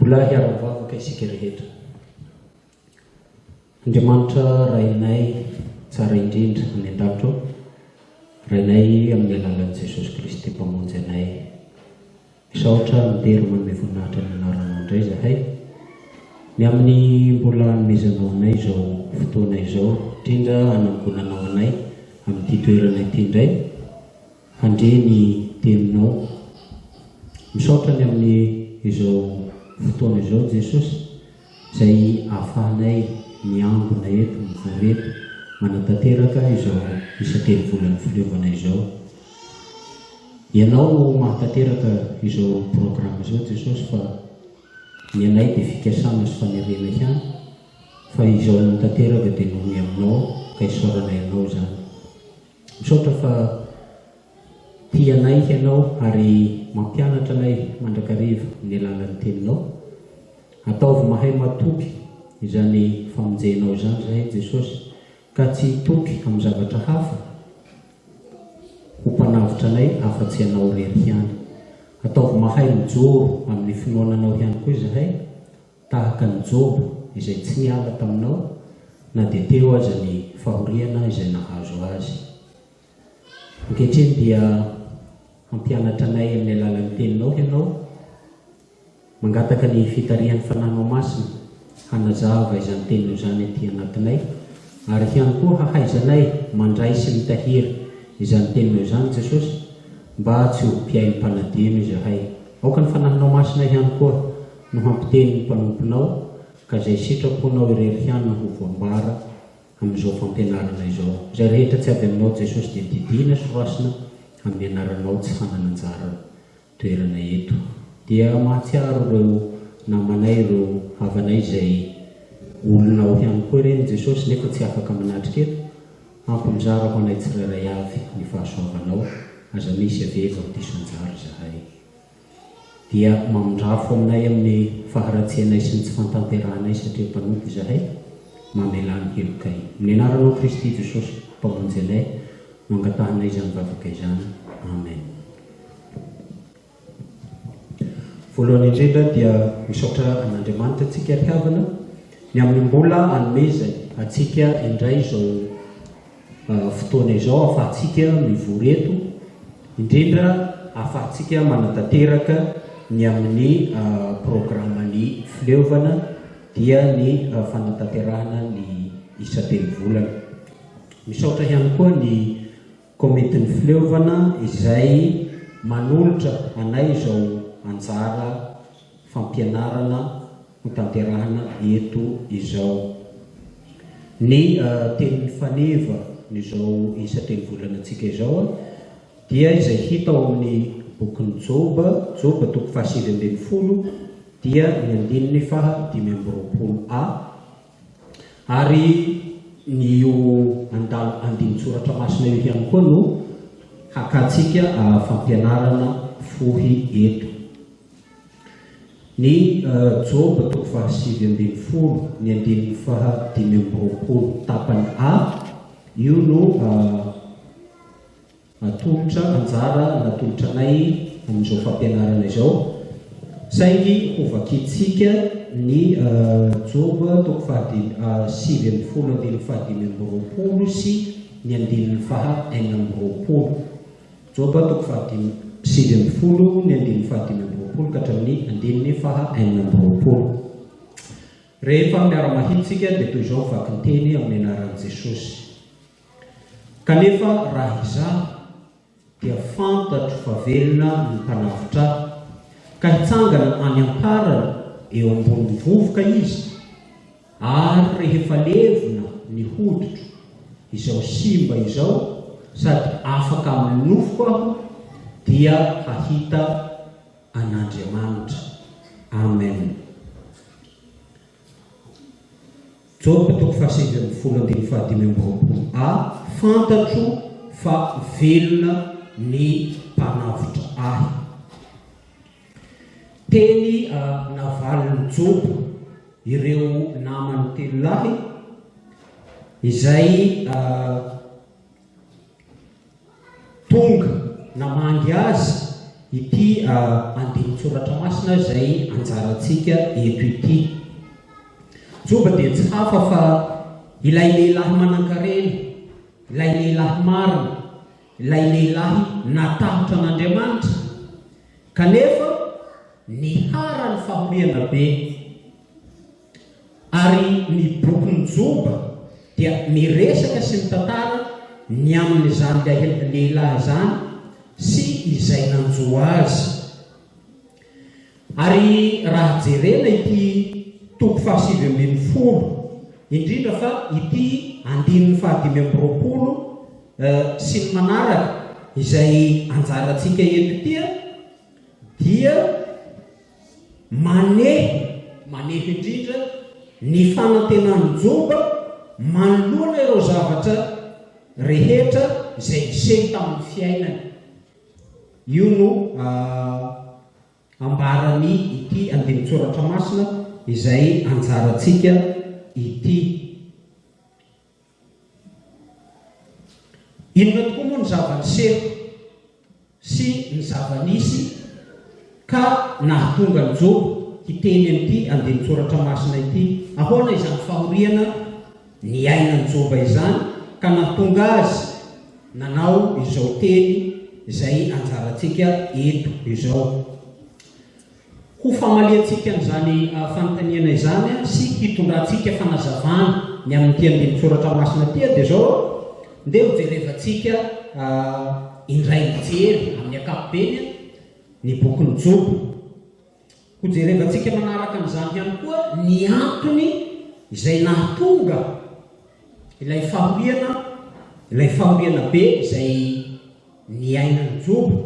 Mbola hiara-mivavaka isika rehetra. Andriamanitra Rainay tsara indrindra any an-danitra ô, Rainay amin'ny alalan'i Jesosy Kristy Mpamonjy anay. Misaotra midera manome voninahitra ny anaranao indray izahay, ny amin'ny mbola anomezanao anay izao fotoana izao, indrindra hanangonanao anay amin'ity toerana ity indray. Handre ny teninao. Misaotra ny amin'ny izao fotoana izao Jesosy izay ahafahanay miangona eto, mivory eto, manatanteraka izao isa-telo volan'ny fileovana izao. Ianao no mahatanteraka izao programme izao Jesosy fa ny anay dia fikasana sy fanerena ihany fa izao tanteraka dia noho ny Aminao ka isaorana Ianao izany. Misaotra fa tia anay hianao ary mampianatra anay mandrakariva amin'ny alalan'ny Teninao. Ataovy mahay matoky izany famonjenao izany izahay, Jesosy, ka tsy hitoky amin'ny zavatra hafa ho Mpanavotra anay afa-tsy Ianao irery ihany. Ataovy mahay mijoro amin'ny finoana Anao ihany koa izahay, tahaka an'i Joba izay tsy niala taminao na dia teo aza ny fahoriana izay nahazo azy. Ankehitriny dia hampianatra anay amin'ny alalan'ny Teninao Ianao. Mangataka ny fitarihan'ny Fanànao Masina hanazava izany Teninao izany aty anatinay ary ihany koa hahaizanay mandray sy mitahiry izany Teninao izany Jesosy mba tsy ho mpihaino mpanadino izahay. Aoka ny Fanahinao Masina ihany koa no hampiteny ny mpanomponao, ka izay sitraponao irery ihany no ho voambara amin'izao fampianarana izao. Izay rehetra tsy avy aminao Jesosy dia didiana sy voasina amin'ny anaranao tsy hanana anjara toerana eto. Dia mahatsiaro ireo namanay, ireo havanay izay olonao ihany koa ireny Jesosy nefa tsy afaka manatrika eto, ampy mizara ho anay tsirairay avy ny fahasoavanao, aza misy avevo amin'ny diso anjara izahay. dia mamindrafo aminay amin'ny faharatsianay sy ny tsy fantanterahanay satria mpanompo izahay, mamelà ny helokay. Amin'ny anaranao Kristy Jesosy Mpamonjy anay no angatahanay izany vavaka izany. Amen. Voalohany indrindra dia misaotra an'Andriamanitra antsika ry havana ny amin'ny mbola anomezany antsika indray izao fotoana izao ahafahantsika mivory eto, indrindra ahafahantsika manatanteraka ny amin'ny programan'ny fileovana dia ny fanatanterahana ny isa-telo volana. Misaotra ihany koa ny Komitin'ny Fileovana izay manolotra anay izao anjara fampianarana hotanterahina eto izao. Ny tenin'ny faneva n'izao isa telo volanantsika izao dia izay hita ao amin'ny bokin'i Joba, Joba toko fahasivy ambin'ny folo dia ny andininy faha dimy amby roapolo a, ary ny io andala andinin-tsoratra masina io ihany koa no hakantsika fampianarana fohy eto. Ny Joba toko fahasivy ambin'ny folo ny andininy faha dimy amby roapolo tapany A, io no atolotra, anjara natolotra anay amin'izao fampianarana izao. Saingy hovakintsika ny Joba toko fahadimy sivy ambin'ny folo andininy faha dimy amby roapolo sy ny andininy faha enina amby roapolo. Joba toko fahadimy amby sivy ambin'ny folo ny andininy fahadimy amby roapolo ka hatramin'ny andininy faha enina amby roapolo. Rehefa miara-mahitsy isika dia toy izao ny vakinteny amin'ny anaran'i Jesosy. Kanefa raha izaho dia fantatro fa velona ny mpanavotra ahy, ka hitsangana any am-parany eo ambonin'ny vovoka izy, Ary rehefa levona ny hoditro izao simba izao sady afaka amin'ny nofoko aho dia hahita an'Andriamanitra. Amen. Joba toko fahasivy ambin'ny folo andininy fahadimy amby roapolo A Fantatro fa velona ny mpanavotra ahy. Teny navalin'i Joba ireo namany telo lahy izay tonga namangy azy ity andinin-tsoratra masina izay anjarantsika eto ity. Joba dia tsy hafa fa ilay lehilahy manan-karena, ilay lehilahy marina, Ilay lehilahy natahotra an'Andriamanitra, kanefa niharan'ny fahoriana be. Ary ny bokin'i Joba dia miresaka sy mitantara ny amin'izany lehilahy izany sy izay nanjo azy. Ary raha jerena ity toko fahasivy ambin'ny folo, indrindra fa ity andininy fahadimy amby roapolo sy ny manaraka izay anjarantsika eto ity dia maneho, maneho indrindra ny fanantenan'i Joba manoloana ireo zavatra rehetra izay niseho tamin'ny fiainany. Io no Ambaran'ny ity andinin-tsoratra masina izay anjarantsika ity. Inona tokoa moa ny zava-niseho sy ny zava-nisy ka nahatonga an'i Joba hiteny an'ity andinin-tsoratra masina ity? Ahoana izany fahoriana? Niainan Joba izany ka nahatonga azy nanao izao teny izay anjarantsika eto izao. Ho famaliantsika an'izany fanontaniana izany sy hitondrantsika fanazavana ny amin'ity andinin-tsoratra masina ity dia izao ndeha ho jerevantsika indray mijery amin'ny ankapobeny ny bokin'i Joba. Hojerevantsika manaraka amin'izany ihany koa ny antony izay nahatonga ilay fahoriana, ilay fahoriana be izay niainan'i Joba,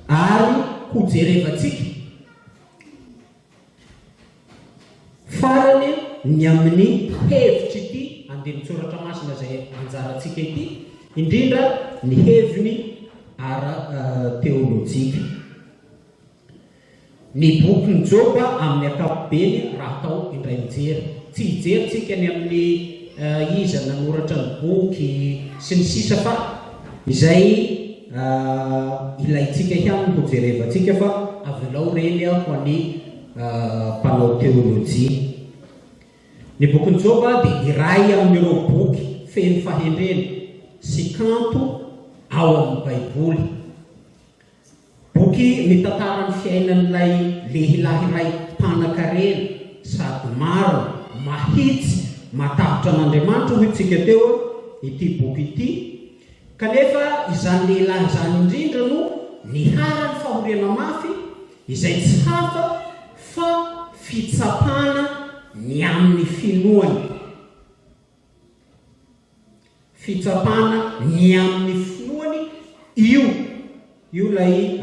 ary hojerevantsika farany ny amin'ny hevitr'ity andinin-tsoratra masina izay anjarantsika ity, indrindra ny heviny ara-teolojika. Ny bokin'i Joba amin'ny ankapobeny raha atao indray mijery. Tsy hijery tsika ny amin'ny iza nanoratra ny boky sy ny sisa fa izay ilaintsika ihany no hojerevantsika fa avelao ireny ho an'ny mpanao teolojia. Ny bokin'i Joba dia iray amin'ireo boky feno fahendrena sy kanto ao amin'ny Baiboly. Boky mitantara ny fiainan'ilay lehilahy iray mpanankarena sady marina, mahitsy, matahotra an'Andriamanitra, hoy tsika teo, ity boky ity, kanefa izany lehilahy izany indrindra no niharan'ny fahoriana mafy, izay tsy hafa fa fitsapana ny amin'ny finoany. fitsapana ny amin'ny finoany io io ilay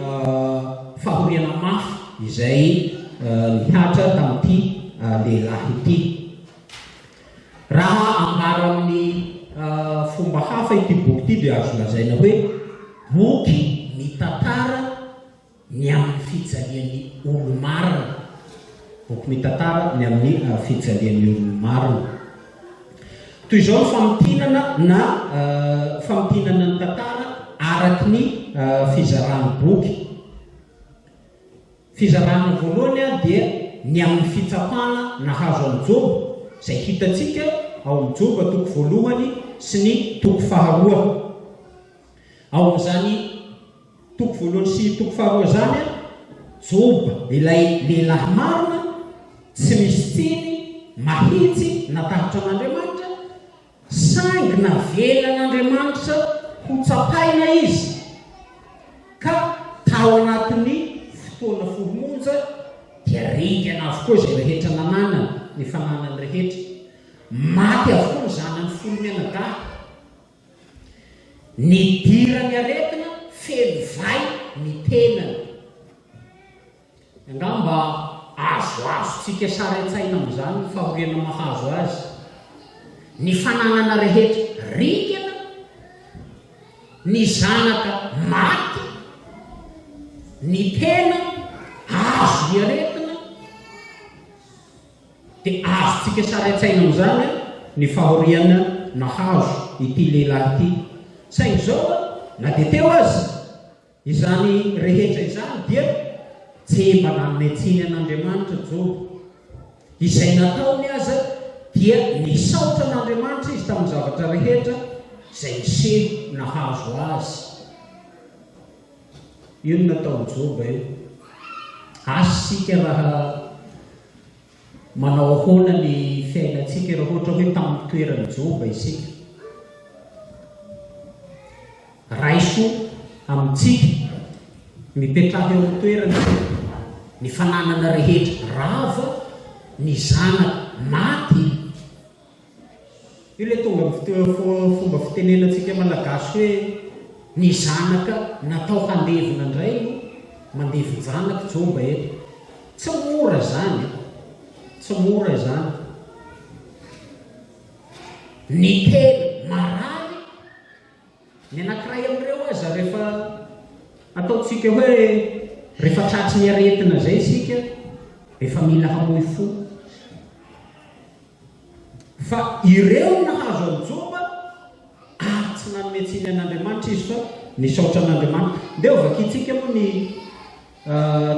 fahoriana mafy izay nihatra tamin'ity lehilahy ity raha ambara amin'ny fomba hafa ity boky ity dia azo lazaina hoe boky mitantara ny amin'ny fijalian'ny olo-marina. Boky mitantara ny amin'ny fijalian'ny olo-marina. Toy izao ny famintinana na famintinana ny tantara araky ny fizaran'ny boky. Fizarana voalohany dia ny amin'ny fitsapana nahazo an'i Joba, izay hitantsika ao amin'ny Joba toko voalohany sy ny toko faharoa. Ao amin'izany Toko voalohany sy toko faharoa zany an. Joba ilay lehilahy marina, tsy misy tsiny, mahitsy, natahotr' an' Andriamanitra, saingy navelan' Andriamanitra ho tsapaina izy, ka tao anatin' ny fotoana folo monja dia ringana avokoa izay rehetra nananany, ny fananany rehetra. Maty avokoa ny zanany folo mianadahy. Nidiran'ny aretina feno vay ny tenany. Angamba azoazontsika sary an-tsaina amin'izany ny fahoriana mahazo azy. Ny fananana rehetra ringana, ny zanaka maty, ny tena azon'ny aretina. Dia azontsika sary an-tsaina amin'izany ny fahoriana nahazo ity lehilahy ity. Saingy izao, na dia teo aza izany rehetra izany dia tsy mba nanome tsiny an'Andriamanitra Joba. Izay nataony aza dia nisaotra an'Andriamanitra izy tamin'ny zavatra rehetra izay niseho nahazo azy. Io no nataon'i Joba io. Asa isika raha manao ahoana ny fiainantsika raha ohatra hoe tamin'ny toeran'i Joba isika. Raiso amintsika, mipetraha eo amin'ny toerana ny fananana rehetra, rava, ny zanaka, maty. Io ilay tonga amin'ny fomba fitenenantsika malagasy hoe ny zanaka natao handevina indray no mandevin-janaka, jomba eto. Tsy mora izany e, tsy mora izany. Ny tena marary Ny anankiray amin'ireo aza rehefa ataontsika hoe rehefa tratry ny aretina izay isika dia efa mila hamoy fo. Fa ireo nahazo an'i Joba ary tsy nanome tsiny an'Andriamanitra izy fa nisaotra an'Andriamanitra. Ndeha hovakintsika moa ny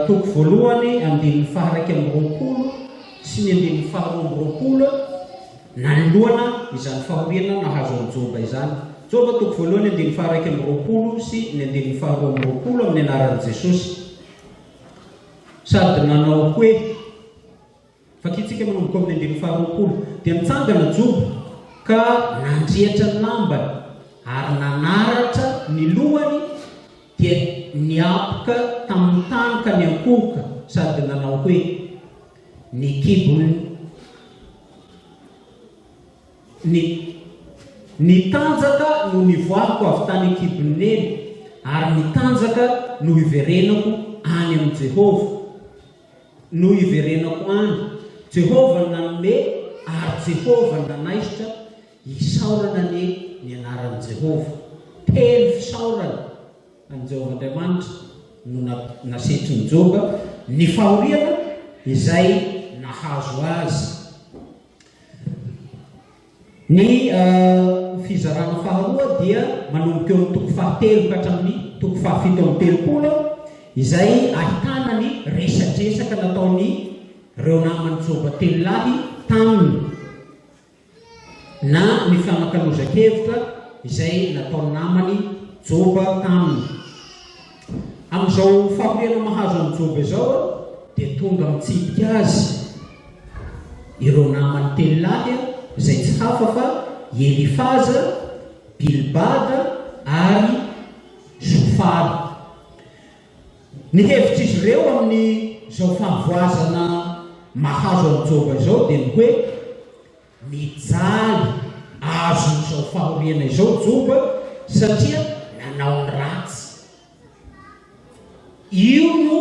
Toko voalohany andininy faha-iraika amby roapolo sy ny andininy faharoa amby roapolo nanoloana izany fahoriana nahazo an'i Joba izany. Joba toko voalohany andininy faha-iraika amby roapolo sy ny andininy faharoa amby roapolo amin'ny anaran'i Jesosy sady nanao hoe. Vakintsika manomboka amin'ny andininy faharoapolo, Dia nitsangana Joba ka nandriatra ny lambany ary nanaratra ny lohany, dia niapoka tamin'ny tany ka niankohoka sady nanao hoe, Ny kibon'ny Ny Ny tanjaka no nivoahako avy tany an-kibon'ny neny, ary ny tanjaka no hiverenako any amin'i Jehovah. no hiverenako any, Jehovah no nanome ary Jehovah no nanaisotra, isaorana anie ny anaran'i Jehovah. Telo fisaorana an'i Jehovah Andriamanitra no nasetrin'i Joba, ny fahoriana izay nahazo azy, Ny fizarana faharoa dia manomboka eo amin'ny toko fahatelo ka hatramin'ny toko fahafito amby telopolo izay ahitana ny resadresaka nataon'ireo naman'i Joba telo lahy taminy na ny fanakalozan-kevitra izay nataon'ny namany Joba taminy. Amin'izao fahoriana mahazo an'i Joba izao dia tonga mitsidika azy ireo namany telo lahy izay tsy hafa fa i Elifaza, Bilbada ary Zofara. Ny hevitr'izy ireo amin'izao fahavoazana mahazo an'i Joba izao dia ny hoe, Mijaly azo izao fahoriana izao Joba satria nanao ny ratsy. Io no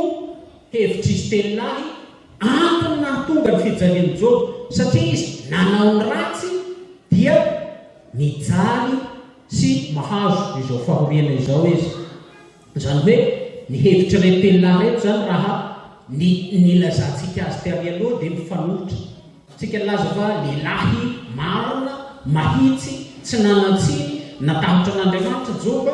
hevitr'i Stella I antony nahatonga ny fijalian'i Joba satria izy nanao ny ratsy dia mijaly sy mahazo izao fahoriana izao izy. Izany hoe ny hevitr'ireto tenin'ahy ireto izany raha ny nilazantsika azy teo mialoha dia mifanohitra. Tsika nilaza fa lehilahy marina, mahitsy, tsy nanan-tsiny, natahotra an'Andriamanitra Joba,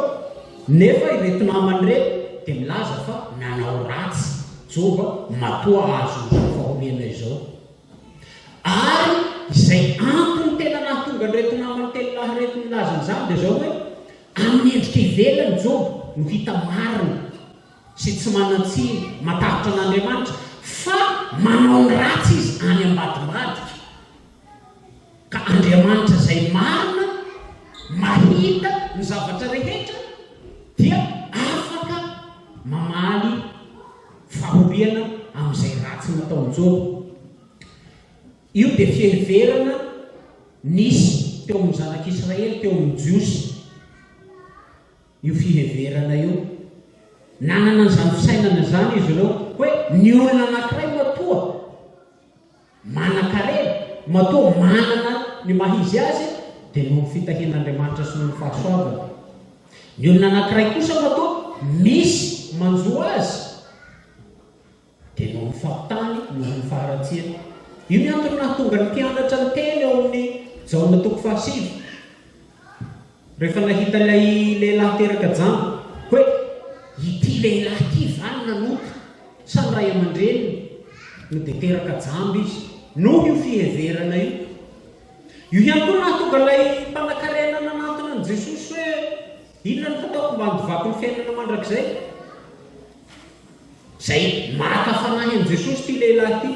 nefa ireto namany ireto dia milaza fa nanao ratsy Joba matoa ahazo izao fahoriana izao. Ary izay antony tena nahatonga an'ireto namany telo lahy ireto nilaza an'izany dia izao hoe Amin'ny endrika ivelany, Joba no hita marina sy tsy manan-tsiny, matahotra an'Andriamanitra, fa manao ny ratsy izy any ambadimbadika. Ka Andriamanitra izay marina, mahita ny zavatra rehetra, dia afaka mamaly fahoriana amin'izay ratsy nataon'i Joba. Io dia fiheverana nisy teo amin'ny zanak'i Israely, teo amin'ny Jiosy io fiheverana io. Nanana an'izany fisainana izany izy ireo hoe ny olona anankiray matoa manan-karena, matoa manana ny maha izy azy dia noho ny fitahian'Andriamanitra sy noho ny fahasoavany. Ny olona anankiray kosa matoa misy manjo azy. Dia ny horofahan-tany no ho faharatsiana. Io ny antony nahatonga ny mpianatra niteny ao amin'ny Jaona toko fahasivy, rehefa nahita ilay lehilahy teraka jamba, hoe, Ity lehilahy ity va no nanota sa ny ray aman-dreniny no dia teraka jamba izy? Noho io fiheverana io. Io ihany koa no nahatonga ilay mpanankarena nanantona an'i Jesosy hoe, Inona no hataoko mba handovako ny fiainana mandrakizay? Izay maka fanahy amin'i Jesosy ity lehilahy ity,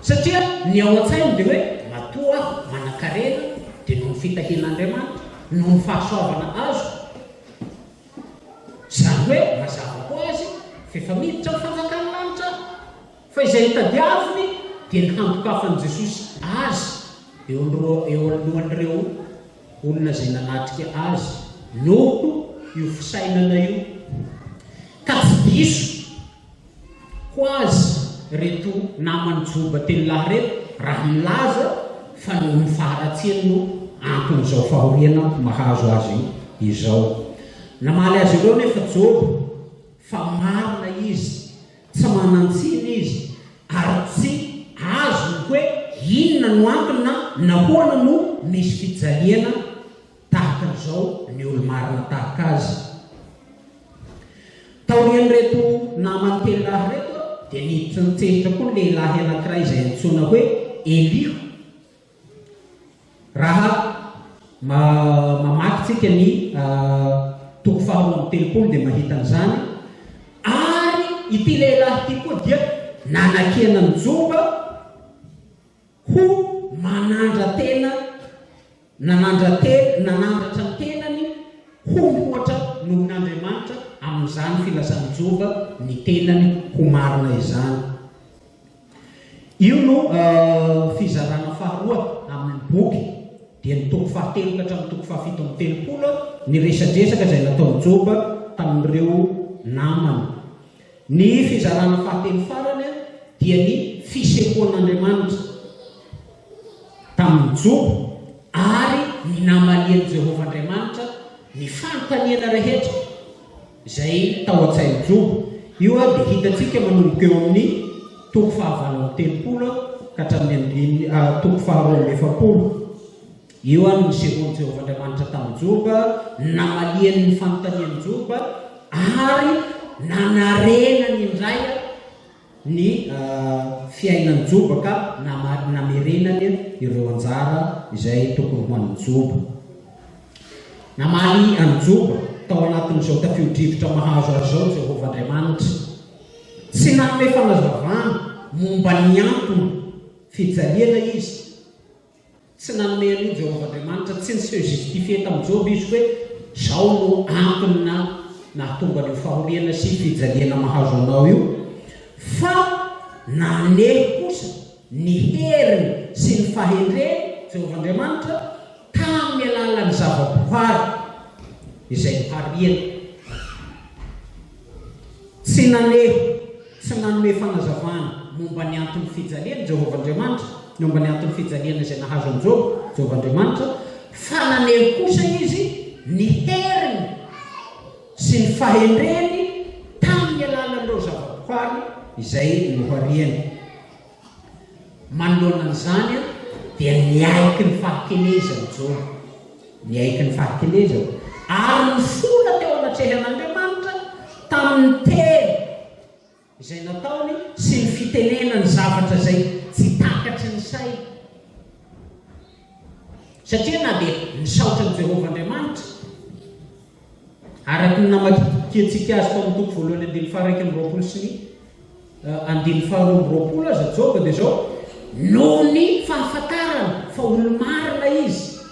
satria ny ao an-tsainy dia hoe, matoa aho manan-karena dia noho ny fitahian'Andriamanitra, noho ny fahasoavana azoko, izany hoe mazava ho azy fa efa miditra ny fanjakan'ny lanitra aho. Fa izay nitadiaviny dia ny handokafan'i Jesosy azy eo alohan'ireo. olona izay nanatrika azy noho io fisainana io ka tsy diso ho azy reto naman'i Joba telo lahy reto raha milaza fa noho ny faharatsiany no anton'izao fahoriana mahazo azy izao. Namaly azy ireo anefa Joba fa marina izy Tsy manan-tsiny izy ary tsy azony hoe inona no antony na nahoana no misy fijaliana tahaka an'izao ny olo-marina tahaka azy. Taorian'ireto namany telo lahy ireto dia niditra nitsehitra koa ny lehilahy anankiray izay antsoina hoe Eliho. Raha mamaky tsika ny toko faharoa amby telopolo dia mahita an'izany, ary ity lehilahy ity koa dia nanakena ny jomba ho manandra-tena, nanandra-tena, nanandratra ny tenany ho mihoatra noho n'Andriamanitra amin'izany filasan-jomba ny tenany ho marina izany. Io no fizarana faharoa amin' ny boky, dia ny toko fahatelo ka hatramin'ny toko fahafito amby telopolo, ny resadresaka izay nataon'i Joba tamin'ireo namany. Ny fizarana fahatelo farany dia ny fisehoan'Andriamanitra tamin'i Joba ary ny namalian'i Jehovah Andriamanitra ny fanontaniana rehetra. izay tao an-tsain'i Joba. Io ary dia hitantsika manomboka eo amin'ny toko fahavalo amby telopolo ka hatramin'ny andininy toko faharoa amby efapolo. Io ary no nisehoan'i Jehovah Andriamanitra tamin'i Joba, namaliany ny fanontanian'i Joba ary nanarenany indray. ny fiainan joba ka namerenany ireo anjara izay tokony ho an'ny joba. Namaly an'i Joba tao anatin'izao tafio-drivotra mahazo azy izao Jehovah Andriamanitra. Tsy nanome fanazavana momba ny antony fijaliana izy. Tsy nanome an'io Jehovah Andriamanitra, tsy niseho justifié tamin'i Joba izy hoe, Izao no antony na nahatonga an'io fahoriana sy fijaliana mahazo anao io, fa naneho kosa ny heriny sy ny fahendreny Jehovah Andriamanitra tamin'ny alalan'ny zavabohary izay nohariany. Tsy naneho tsy nanome fanazavana momba ny anton'ny fijaliany Jehovah Andriamanitra, ny momba ny anton'ny fijaliana izay nahazo an'i Joba, Jehovah Andriamanitra, fa naneho kosa izy ny heriny sy ny fahendreny tamin'ny alalan'ireo zavabohary izay nohariany. Manoloana an'izany dia niaiky ny fahakelezany Joba, niaiky ny fahakelezany, ary nifola teo anatrehan'Andriamanitra tamin'ny teny izay nataony sy ny fitenenany zavatra izay tsy takatry ny sainy. Satria na dia nisaotra an'i Jehovah Andriamanitra, araka ny namadihadiantsika azy tao amin'ny toko voalohany andininy faha-iraika amby roapolo sy ny andininy faharoa amby roapolo aza Joba dia izao, noho ny fahafantarany fa olo-marina izy,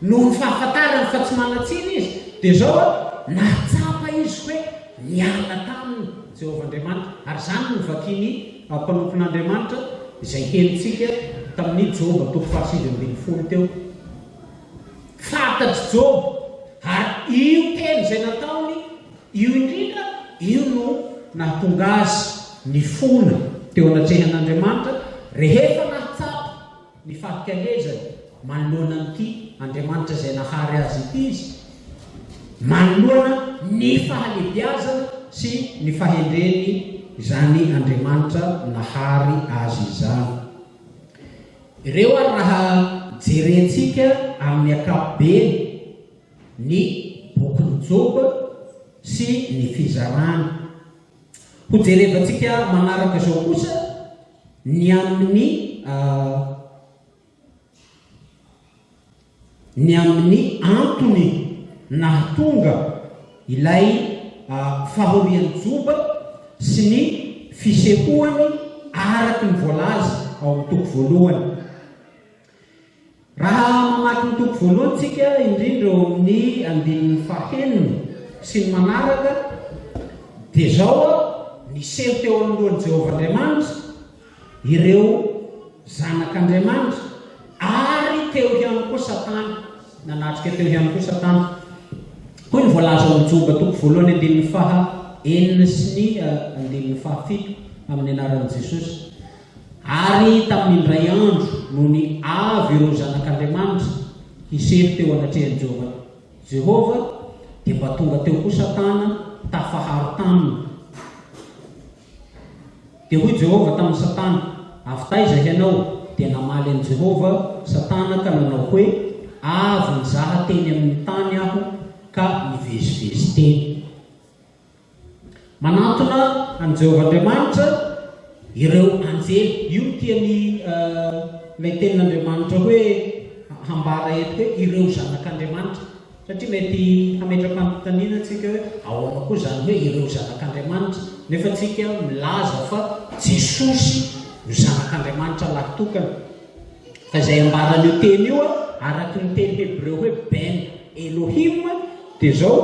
noho ny fahafantarany fa tsy manan-tsiny izy, dia izao, nahatsapa izy hoe niala taminy Jehovah Andriamanitra, ary izany no vakin'i Ampanofin'Andriamanitra izay henontsika tamin'ny Joba toko fahasivy ambin'ny folo teo. Fantatr'i Joba ary io teny izay nataony io indrindra io no nahatonga azy nifona teo anatrehan'Andriamanitra rehefa nahatsapa. Ny fankalezany manoloana an'ity Andriamanitra izay nahary azy ity izy, manoloana ny fahalehibiazana sy ny fahendreny izany Andriamanitra nahary azy izany. Ireo ary raha jerentsika amin'ny ankapobeny ny bokin'i Joba sy ny fizarany. Hojerevantsika manaraka izao kosa. Ny amin'ny ny amin'ny antony nahatonga ilay fahorian'i Joba sy ny fisehoany araka ny voalaza ao amin'ny toko voalohany. Raha mamaky ny toko voalohany tsika, indrindra eo amin'ny andininy fahenina sy ny manaraka, dia izao a, Niseho teo anoloan'i Jehovah Andriamanitra ireo zanak'Andriamanitra, ary teo ihany koa Satana, nanatrika teo ihany koa Satana. Hoy ny voalaza ao amin'ny Joba toko voalohany andininy faha enina sy ny andininy fahafito, amin'ny anaran'i Jesosy. Ary tamin'ny indray andro, nony avy ireo zanak'Andriamanitra hisely teo anatrehan'i Jehovah, dia mba tonga teo koa Satana tafaharo taminy. Dia hoy Jehovah tamin'i Satana, Avy taiza hianao? Dia namaly an'i Jehovah Satana ka nanao hoe, Avy nizaha teny amin'ny tany aho ka nivezivezy teny. Manantona an'i Jehovah Andriamanitra ireo anjely. Io no tian'ilay tenin'Andriamanitra hoe hambara eto hoe ireo zanak'Andriamanitra. Satria mety hametra-panontaniana antsika hoe ahoana koa izany hoe ireo zanak'Andriamanitra, nefa antsika milaza fa Jesosy no Zanak'Andriamanitra lahy-tokana. Fa izay ambaran'io teny io, araka ny teny hebreo hoe ben Elohim, dia izao,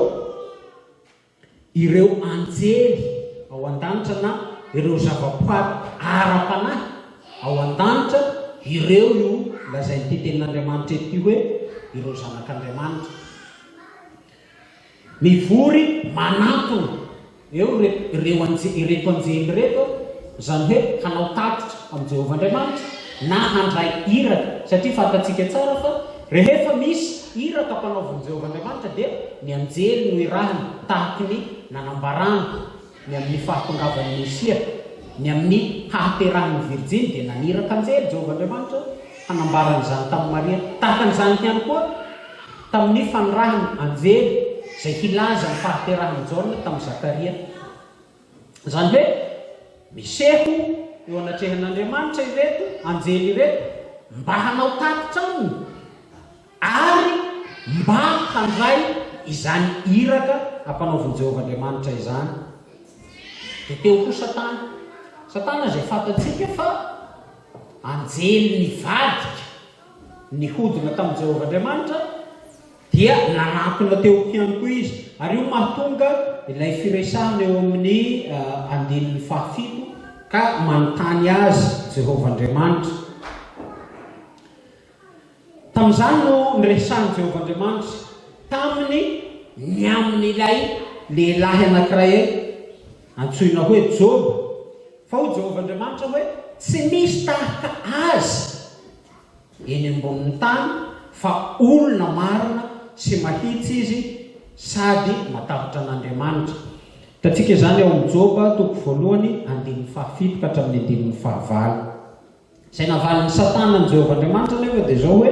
ireo anjely ao an-danitra na ireo zavaboary ara-panahy ao an-danitra, ireo no lazain'ity Tenin'Andriamanitra ity hoe ireo zanak'Andriamanitra. Mivory manantona eo ireto anjely ireto, izany hoe hanao tatitra amin'i Jehovah Andriamanitra. na handray iraka satria fantatsika tsara fa rehefa misy iraka ampanaovin'i Jehovah Andriamanitra dia ny anjely no irahiny tahaka ny nanambarany ny amin'ny fahatongavan'ny Mesia ny amin'ny hahaterahan'ny virjiny dia naniraka anjely Jehovah Andriamanitra hanambara an'izany tamin'i Maria tahaka an'izany ihany koa tamin'ny fanirahiny anjely izay hilaza ny fahaterahan'i Jaona tamin'i Zakaria Izany hoe, miseho eo anatrehan'Andriamanitra ireto anjely ireto mba hanao tatitra aminy ary mba handray izany iraka ampanaovin'i Jehovah Andriamanitra izany. Dia teo koa Satana. Satana izay fantatsika fa anjely nivadika nihodina tamin'i Jehovah Andriamanitra Dia nanatona teo ihany koa izy. Ary io mahatonga ilay firesahana eo amin'ny andininy fahafito, Ka manontany azy Jehovah Andriamanitra. Tamin'izany no niresahan'i Jehovah Andriamanitra taminy ny amin'ilay lehilahy anankiray antsoina hoe Joba, fa hoy Jehovah Andriamanitra hoe, Tsy misy tahaka azy. eny ambonin'ny tany fa olona marina sy mahitsy izy sady matahotra an'Andriamanitra. Hitantsika izany ao amin'ny Joba toko voalohany andininy fahafito ka hatramin'ny andininy fahavalo. Izay navalin'i Satana an'i Jehovah Andriamanitra anefa dia izao hoe,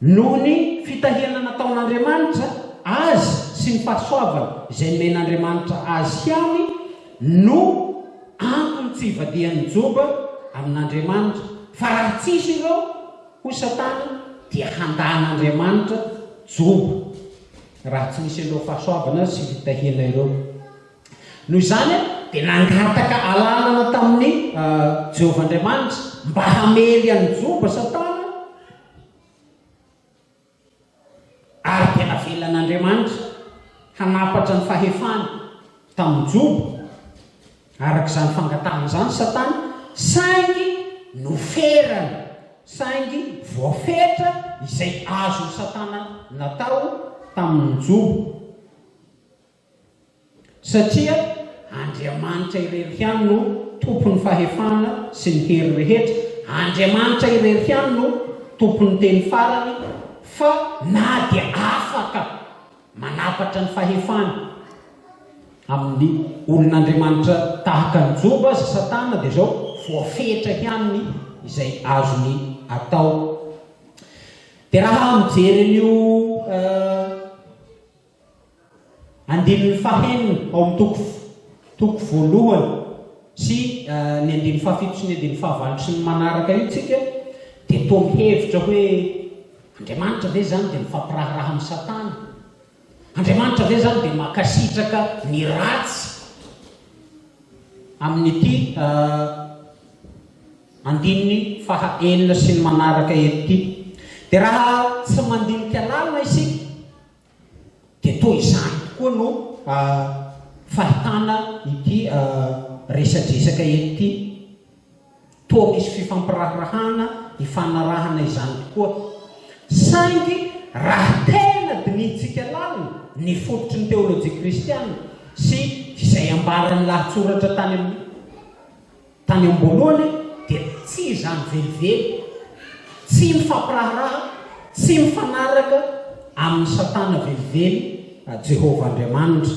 Noho ny fitahiana nataon'Andriamanitra azy sy ny fahasoavana izay nomen'Andriamanitra azy ihany no antony tsy hivadihan'i Joba amin'Andriamanitra, fa raha tsisy ireo, hoy Satana, dia handahan'Andriamanitra Joba, raha tsy nisy an'ireo fahasoavana sy fitahiana ireo. Noho izany, dia nangataka alalana tamin'i Jehovah Andriamanitra mba hamely an'i Joba Satana, ary dia navelan'Andriamanitra hanampatra ny fahefany tamin'i Joba, araka izany fangatahana izany, Satana, saingy noferany, saingy voafetra izay azon'i Satana natao tamin'i Joba. Satria Andriamanitra irery ihany no Tompon'ny fahefana sy ny hery rehetra, Andriamanitra irery ihany no Tompon'ny teny farany, fa na dia afaka manapatra ny fahefany amin'ny olon'Andriamanitra tahaka an'i Joba aza Satana, dia izao voafetra ihany ny izay azony atao. Dia raha mijery an'io. Andininy fahenina ao amin'ny toko toko voalohany sy ny andininy fahafito sy ny andininy fahavalotry ny manaraka io tsika dia toa mihevitra hoe Andriamanitra ve izany dia mifampiraharaha amin'ny Satana? Andriamanitra ve izany dia mankasitraka ny ratsy? Amin'ity andininy faha enina sy ny manaraka eto ity. Dia raha tsy mandinika lalina isika Dia toa izany tokoa no fahitana ity resadresaka eto ity. Toa misy fifampiraharahana hifanarahana izany tokoa. Saingy raha tena dinihintsika lalina ny fototry ny teolojia kristiana sy izay ambaran'ny lahatsoratra tany amin'ny. Tany am-boalohany dia tsy izany velively, tsy mifampiraharaha, tsy mifanaraka amin'i Satana velively Jehovah Andriamanitra.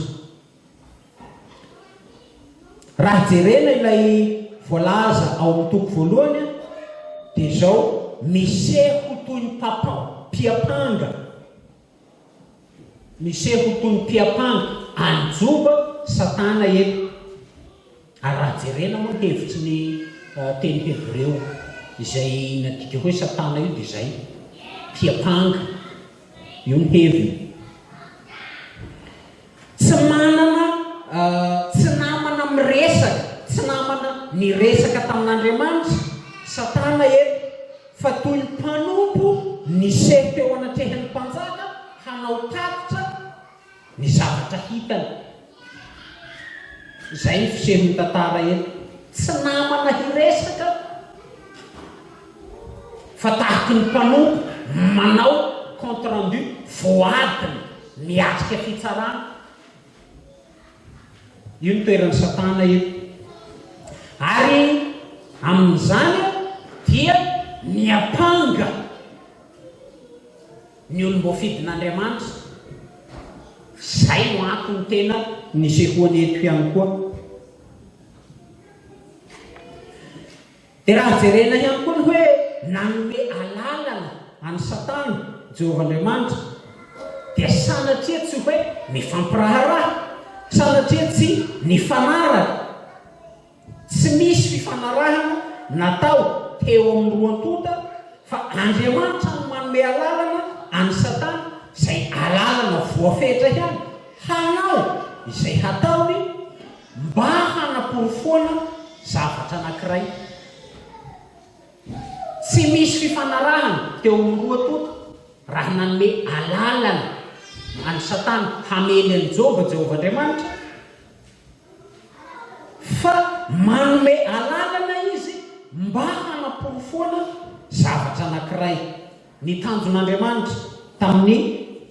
Raha jerena ilay voalaza ao amin'ny toko voalohany dia izao, Miseho ho toy ny papa, mpiampanga, Miseho ho toy ny mpiampanga any Joba Satana eto, ary raha jerena moa ny hevitry ny teny hebreo izay nadika hoe Satana io dia izay, mpiampanga. Io ny heviny. Tsy manana, tsy namana miresaka, tsy namana niresaka tamin'Andriamanitra, Satana eto, fa toy ny mpanompo niseho teo anatrehan'ny mpanjaka hanao tatitra ny zavatra hitany. Izay ny fisehon'ny tantara eto. Tsy namana hiresaka. fa tahaka ny mpanompo manao compte rendu voadiny miatrika fitsarana. Io ny toeran'i Satana io. Ary amin'izany dia miampanga ny olom-boafidin'Andriamanitra. Izay no antony tena nisehoany eto ihany koa. Dia raha jerena ihany koa ny hoe nanome alalana an'i Satana Jehovah Andriamanitra, dia sanatria tsy hoe nifampiraharaha, sanatria tsy nifanaraka. Tsy misy fifanarahana natao teo amin'ny roa tonta, fa Andriamanitra no manome alalana an'i Satana, izay alalana voafetra ihany, hanao izay hataony. Mba hanaporofoana zavatra anankiray, tsy misy fifanarahana teo amin'ny roa tonta raha nanome alalana an'i Satana hamely an'i Joba Jehovah Andriamanitra, fa manome alalana izy mba hanaporofoana zavatra anankiray. Ny tanjon'Andriamanitra tamin'ny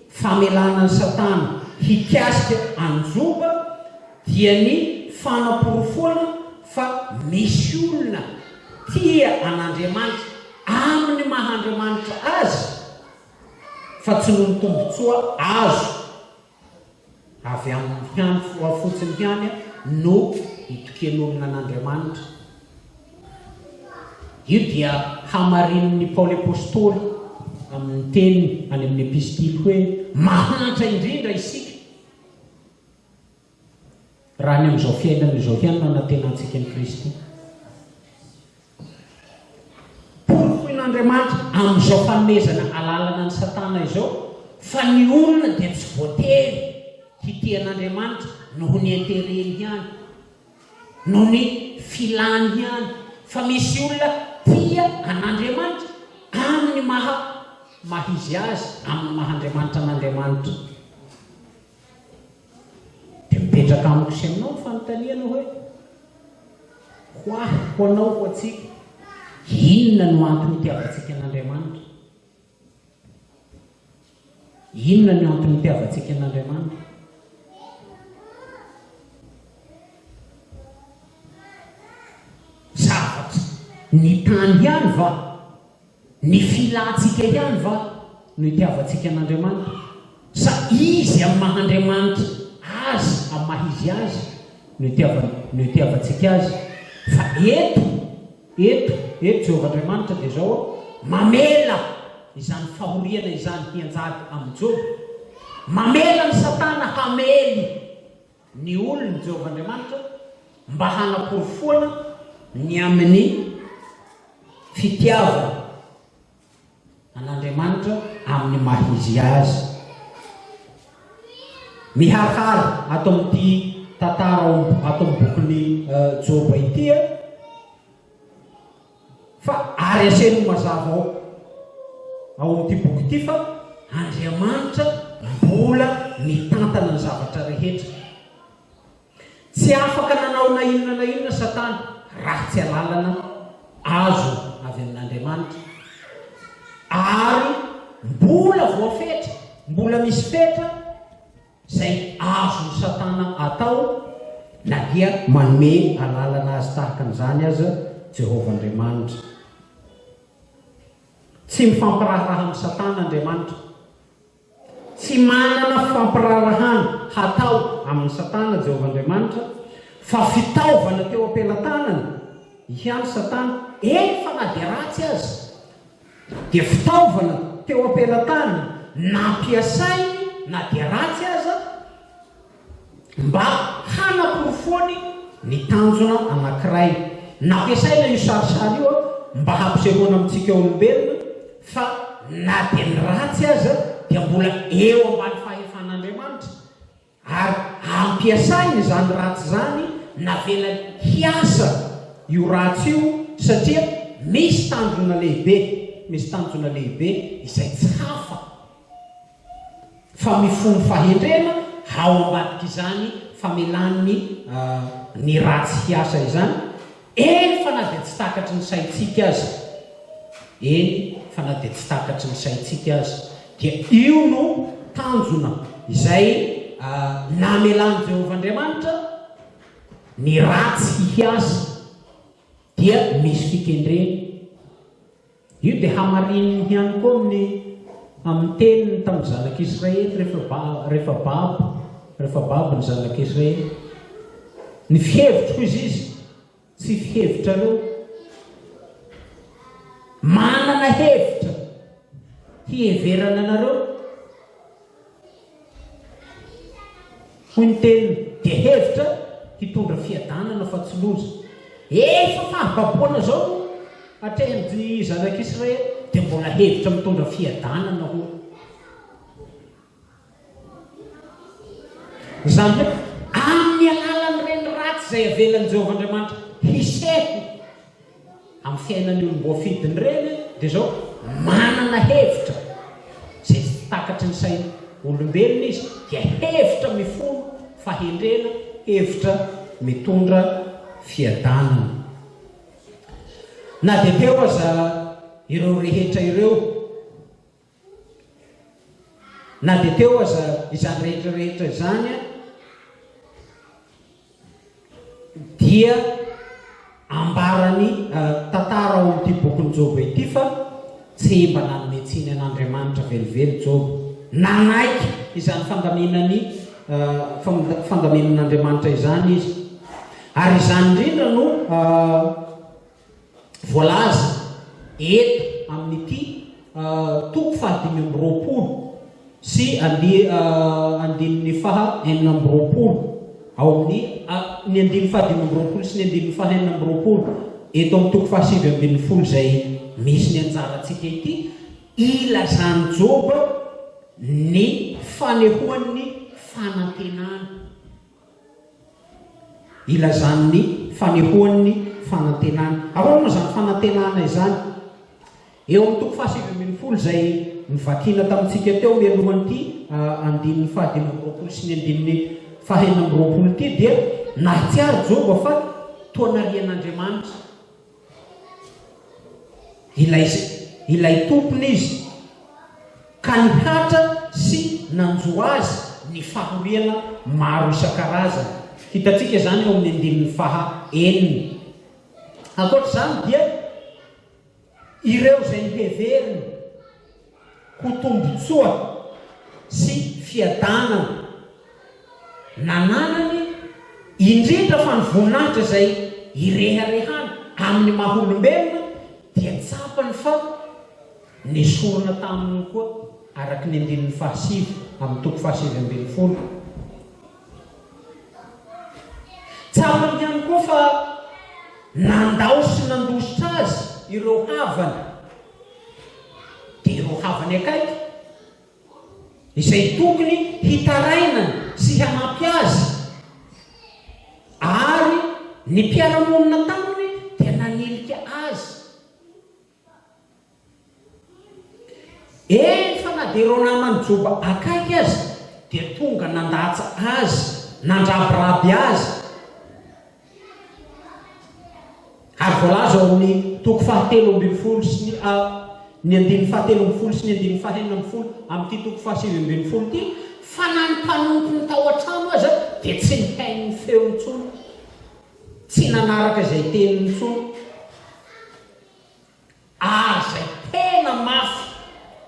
famelana an'i Satana hikasika an'i Joba dia ny fanaporofoana fa misy olona tia an'Andriamanitra amin'ny maha Andriamanitra Azy fa tsy noho ny tombontsoa azo. Avy amin'ny hany finoa fotsiny ihany no itokian'olona an'Andriamanitra. Io dia hamarinin'i Paoly Apostoly amin'ny teniny any amin'ny Epistily hoe, Mahantra indrindra isika. Raha ny amin'izao fiainana izao ihany no anantenantsika an'i Kristy, porofoin'Andriamanitra amin'izao fanomezana alalana an'i Satana izao fa ny olona dia tsy voatery hitia an'Andriamanitra noho ny intérêt-ny ihany, noho ny filàny ihany, fa misy olona tia an'Andriamanitra amin'ny maha maha izy azy, amin'ny maha Andriamanitra an'Andriamanitra. Dia mipetraka amiko sy aminao ny fanontaniana hoe, Ho ahy, ho anao, ho antsika, inona no antony itiavantsika an'Andriamanitra? Inona no antony itiavantsika an'Andriamanitra? Zavatra ny tany ihany va? Ny filantsika ihany va no itiavantsika an'Andriamanitra? Sa Izy amin'ny maha Andriamanitra Azy, amin'ny maha Izy Azy no itiavany, no itiavantsika Azy? Fa eto, eto, eto Jehovah Andriamanitra dia izao, mamela izany fahoriana izany hianjady amin'i Joba. Mamela an'i Satana hamely. ny olony Jehovah Andriamanitra mba hanaporofoana ny amin'ny fitiavana an'Andriamanitra amin'ny maha izy azy. Miharihary ato amin'ity tantara ao ato amin'ny bokin'i Joba ity, Fa ary asehony ho mazava ao ao amin'ity boky ity fa Andriamanitra mbola mitantana ny zavatra rehetra. Tsy afaka nanao na inona na inona Satana raha tsy alalana azo avy amin'Andriamanitra. Ary mbola voafetra, mbola misy fetra Izay azon'i Satana atao na dia manome alalana azy tahaka an'izany aza Jehovah Andriamanitra. Tsy mifampiraharaha amin'i Satana Andriamanitra. Tsy manana fampiraharahana hatao amin'i Satana Jehovah Andriamanitra, fa fitaovana teo am-pelatanany ihany Satana, eny fa na dia ratsy aza. dia fitaovana teo am-pelantany nampiasainy na dia ratsy aza mba hanaporofoany ny tanjona anankiray. Nampiasaina io sarisary io mba hampisehoana amintsika olombelona fa na dia ny ratsy aza dia mbola eo ambany fahefan'Andriamanitra. Ary ampiasainy izany ratsy izany, navelany hiasa io ratsy io satria misy tanjona lehibe, misy tanjona lehibe izay tsy hafa fa mifono fahendrena ao ambadik'izany famelan'ny ny ratsy hiasa izany, Eny fa na dia tsy takatry ny saintsika aza, eny fa na dia tsy takatry ny saintsika aza dia io no tanjona izay namelan'i Jehovah Andriamanitra, ny ratsy hihiasa dia misy fikendreny. Io dia hamarininy ihany koa amin'ny amin'ny teniny tamin'ny zanak'Israely rehefa ba rehefa babo rehefa babo ny zanak'Israely. Ny fihevitriko, hoy izy, tsy fihevitrareo. Manana hevitra hiheverana anareo. Hoy ny teniny, dia hevitra hitondra fiadanana fa tsy loza. Efa fahababoana izao no atrehin'ny zanak'Israely, dia mbola hevitra mitondra fiadanana hono. Izany hoe, amin'ny alalan'ireny ratsy izay avelan'i Jehovah Andriamanitra hiseho. Amin'ny fiainan'ny olom-boafidy ny reny dia izao, manana hevitra izay tsy takatry ny sain' olombelona izy, dia hevitra mifono fahendrena, hevitra mitondra fiadanana. Na dia teo aza ireo rehetra ireo, Na dia teo aza izany rehetra rehetra izany dia ambaran'ny tantara ao amin'ity bokin'i Joba ity fa tsy mba nanome tsiny an'Andriamanitra velively Joba. Nanaiky izany fandaminany fandaminan'Andriamanitra izany izy. Ary izany indrindra no voalaza eto amin'ity toko fahadimy amby roapolo sy andininy faha enina amby roapolo ao amin'ny ny andininy fahadimy amby roapolo sy ny andininy faha enina amby roapolo eto amin'ny toko fahasivy ambin'ny folo izay misy ny anjarantsika ity ilazan'i Joba ny fanehoan'ny fanantenany Ilazany ny fanehoany ny fanantenany. Ahoana moa izany fanantenana izany? Eo amin'ny toko fahasivy ambin'ny folo izay novakiana tamintsika teo mialohan'ity andininy fahadimy amby roapolo sy ny andininy fahenina amby roapolo ity dia nahatsiaro Joba fa toa narian'Andriamanitra. Ilay, Ilay Tompony izy, ka nihatra sy nanjo azy ny fahoriana maro isan-karazany. Hitantsika izany eo amin'ny andininy faha enina. Ankoatra izany dia ireo izay heveriny. ho tombontsoa sy fiadanana nananany, indrindra fa ny voninahitra izay ireharehany amin'ny maha olombelona dia tsapany fa nesorina taminy koa araka ny andininy fahasivy amin'ny toko fahasivy ambin'ny folo. Tsapany ihany koa fa nandao sy nandositra azy ireo havany. dia ireo havany akaiky izay tokony hitarainany sy hanampy azy ary ny mpiara-monina taminy dia nanilika azy. Eny fa na dia ireo namany Joba akaiky aza dia tonga nandatsa azy, nandrabiraby azy. Ary voalaza ao amin'ny toko fahatelo ambin'ny folo sy ny A ny andininy fahatelo ambin'ny folo sy ny andininy fahenina ambin'ny folo amin'ity toko fahasivy ambin'ny folo ity fa na ny mpanompony tao an-trano aza dia tsy nihaino ny feo intsony, tsy nanaraka izay teniny intsony. Ary izay tena mafy,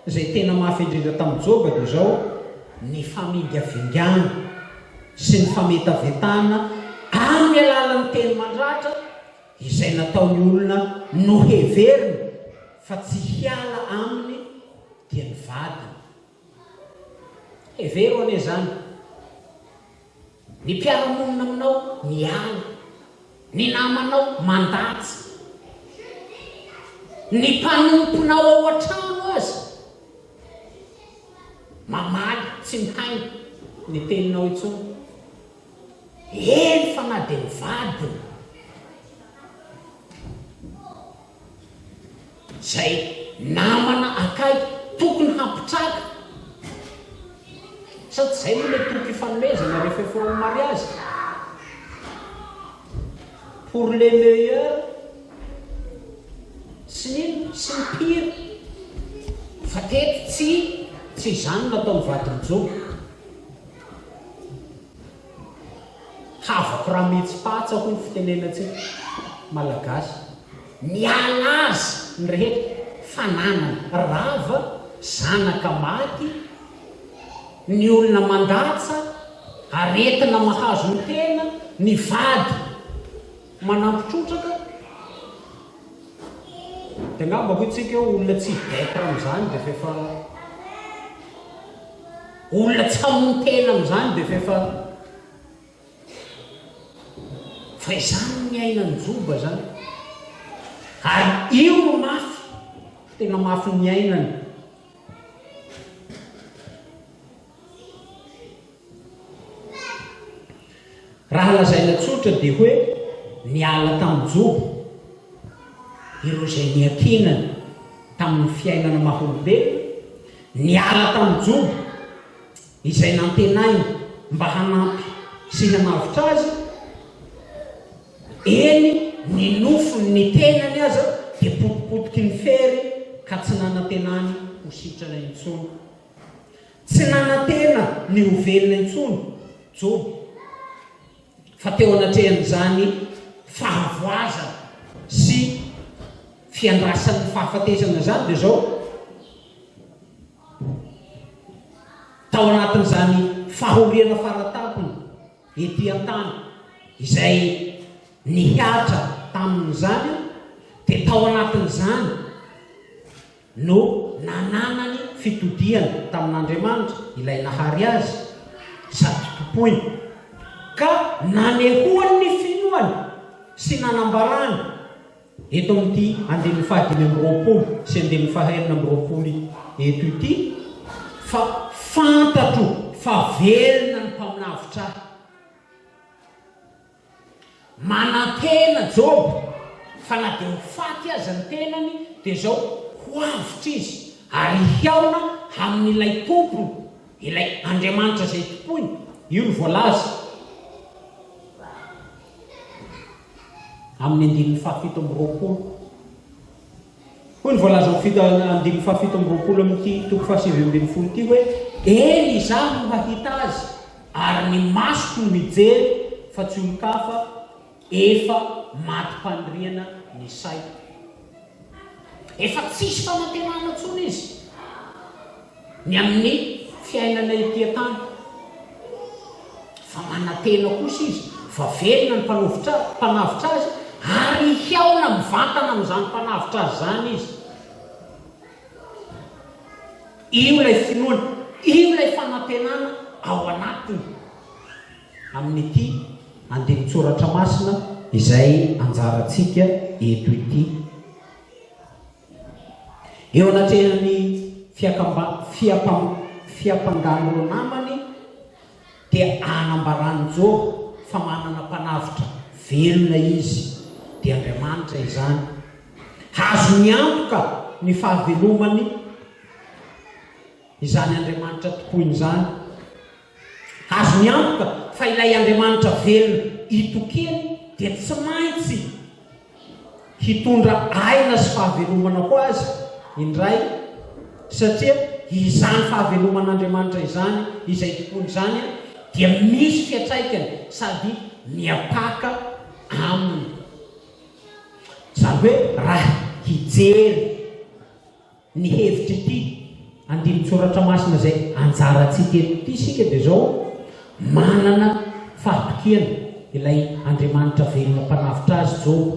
izay tena mafy indrindra tamin'i Joba dia izao, ny famingavingana sy ny fametavetana amin'ny alalan'ny teny mandratra izay nataon'ny olona noheveriny fa tsy hiala aminy dia ny vadiny. Hevero anie izany. Ny mpiara-monina aminao miala. Ny namanao mandatsy. Ny mpanomponao ao an-trano aza mamaly tsy mihaino ny teninao intsony. Eny fa na dia mivadina. Zay namana akaiky tokony hampitraka sa tsy zay moa le toko ifanomezana rehefa efa eo am mariazy? Pour le meilleur sy ny inona sy ny pire fa teto tsy tsy izany nataony vadin'i Jono. Havako rametsy patsa hoy ny fitenenantsika malagasy. Miala azy ny rehetra fananana rava, zanaka maty, ny olona mandatsa, aretina mahazo ny tena, ny vady manampy trotraka. Dia angamba hoy tsika olona tsy hidetra amzany dia efa Olona tsy hamono tena amin'izany dia f'efa fa izany ny ainan'i Joba izany. Ary io no mafy, tena mafy ny ainany. Raha lazaina tsotra dia hoe niala tamin'ny jobo ireo izay niankinany tamin'ny fiainana maha-olombelona, niala tamin'ny jobo izay nantenainy mba hanampy sy hanavotra azy, eny ny nofony ny tenany aza dia potipotiky ny fery ka tsy nanantenany ho sitrana intsony. Tsy nanantena ny ho velona intsony Joba, fa teo anatrehan'izany fahavoazana sy fiandrasan'ny fahafatesana izany dia izao, tao anatin'izany fahoriana fara tampony ety an-tany izay nihatra tamin'izany dia tao anatin'izany, no nananany fitodihana tamin'Andriamanitra, Ilay nahary azy sady tompoiny, ka nanehoany ny finoany sy nanambarany eto amin'ity andininy fahadimy amby roapolo sy andininy fahaenina amby roapolo eto ity fa fantatro fa velona ny Mpaminavitra ahy. Manantena Joba fa na dia ho faty aza ny tenany, dia izao, Ho avotra izy, ary hihaona amin'ilay tompony, ilay Andriamanitra izay tompoiny. Io no voalaza amin'ny andininy fahafito amby roapolo. Hoy ny voalazan'ny fito andininy fahafito amby roapolo amin'ity toko fahasivy ambin'ny folo ity hoe, Eny, izaho no hahita azy, ary ny masoko no hijery, fa tsy olon-kafa, efa matim-paniriana ny saiko. Efa tsisy fanantenana intsony izy. Ny amin'ny fiainana ety an-tany. Fa manantena kosa Izy fa velona ny mpanovitra, mpanavotra azy, ary hihaona mivantana amin'izany mpanavotra azy izany Izy. Io ilay finoana, io ilay fanantenana ao anatiny amin'ity andinin-tsoratra masina izay anjarantsika eto ity. Eo anatrehan'ny fiakam-bam, fiampangàn'ireo namany dia anambaran'i Joba fa manana Mpanavotra velona izy, dia Andriamanitra izany. Azony antoka ny fahavelomany izany Andriamanitra tompoiny izany. Azony antoka fa ilay Andriamanitra velona itokiany dia tsy maintsy hitondra aina sy fahavelomana ho azy indray, satria izany fahaveloman'Andriamanitra izany, izay itokiany izany, dia misy fiantraikany sady miapaka aminy. Izany hoe raha hijery. Ny hevitr'ity andinin-tsoratra masina izay anjarantsika eto ity isika dia izao, manana fahatokiana ilay Andriamanitra velona mpanavotra azy Joba,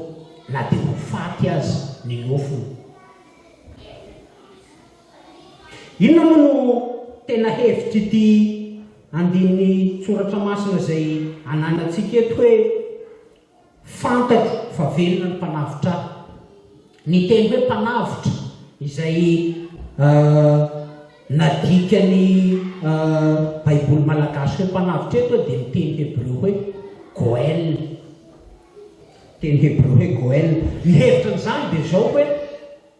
na dia ho faty aza ny nofony. Inona moa no tena hevitr'ity andinin-tsoratra masina izay ananantsika eto hoe Fantatro fa velona ny mpanavotra ahy. Ny teny hoe mpanavotra, izay nadikan'ny Baiboly malagasy hoe mpanavotra eto dia ny teny hebreo hoe goel. Teny hebreo hoe goel. Ny hevitra an'izany dia izao hoe,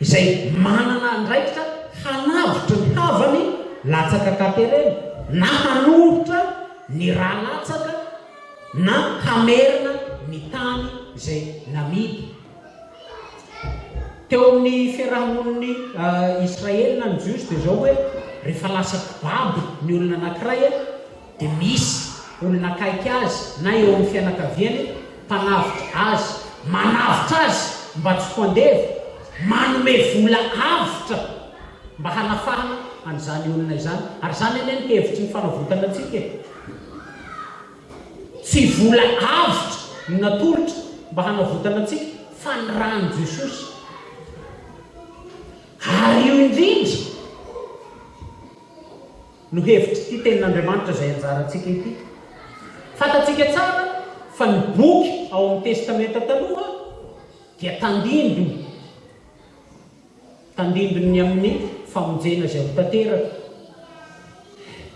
izay manana andraikitra hanavotra ny havany latsaka katerena na hanoritra ny rà latsaka na hamerina ny tany izay namidy. Teo amin'ny fiaraha-monin'ny Israely na ny Jiosy dia izao hoe rehefa lasa mpibabo ny olona anankiray, dia misy olona akaiky azy na eo amin'ny fianakaviany mpanavotra azy, manavotra azy mba tsy ho andevo, manome vola avotra mba hanafahana an'izany olona izany, ary izany anie no hevitry ny fanavotana antsika e! Tsy vola avotra no natolotra mba hanavotana antsika fa ny ran'i Jesosy. Ary io indrindra. no hevitr'ity Tenin'Andriamanitra izay anjarantsika ity. Fantatsika tsara fa ny boky ao amin'ny Testamenta Taloha dia tandindona, tandindon'ny amin'ny famonjena izay ho tanteraka,